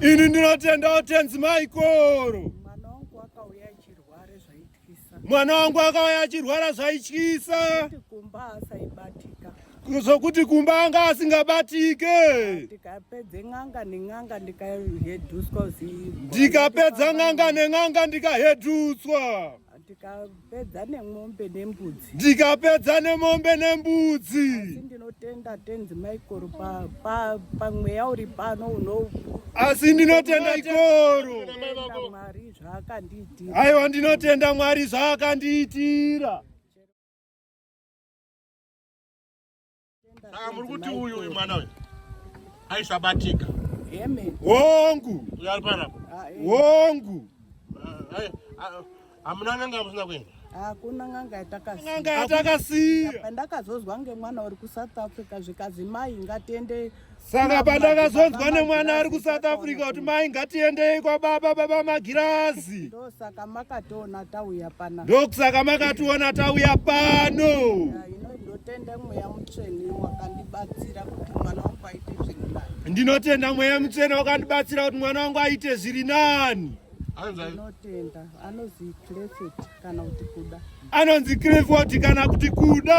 Ini ndinotenda watenzi Michael. Mwana wangu akauya achirwara zvaityisa. Kumba asaibatika zvokuti kumba anga asingabatike ndikapedza n'anga nen'anga ndikahedutswa ndikapedza n'anga nen'anga ndikahedutswa Ndikapedza nemombe nembudzi. Ndikapedza nemombe nembudzi. Asi ndinotenda tenzi Michael pa pa pamweya uri pano uno. Asi ndinotenda ikoro. Mwari zvaakandiitira. Aiwa ndinotenda Mwari zvaakandiitira. Saka muri kuti uyu uyu mwana uyu aisabatika. Amen. Wongu. Uyari pana. Ah, eh. Wongu. Ah, eh, ah, hamuna n'anga yamusina kuenda? Hakuna n'anga yatakasiya. Pandakazozwa ngemwana uri kuSouth Africa zvikanzi mai ngatiende saka pandakazonzwa nemwana ari kusouth africa kuti mai ngatiendei kwababa baba magirazi ndosaka makationa tauya pano ndokusaka makationa tauya pano ndinotenda mweya mutsvene wakandibatsira kuti mwana wangu aite zviri nani ndinotenda mweya mutsvene wakandibatsira kuti mwana wangu aite zviri nani anotenda anonzi clefet kana kuti kuda anonzi clefot kana kuti kuda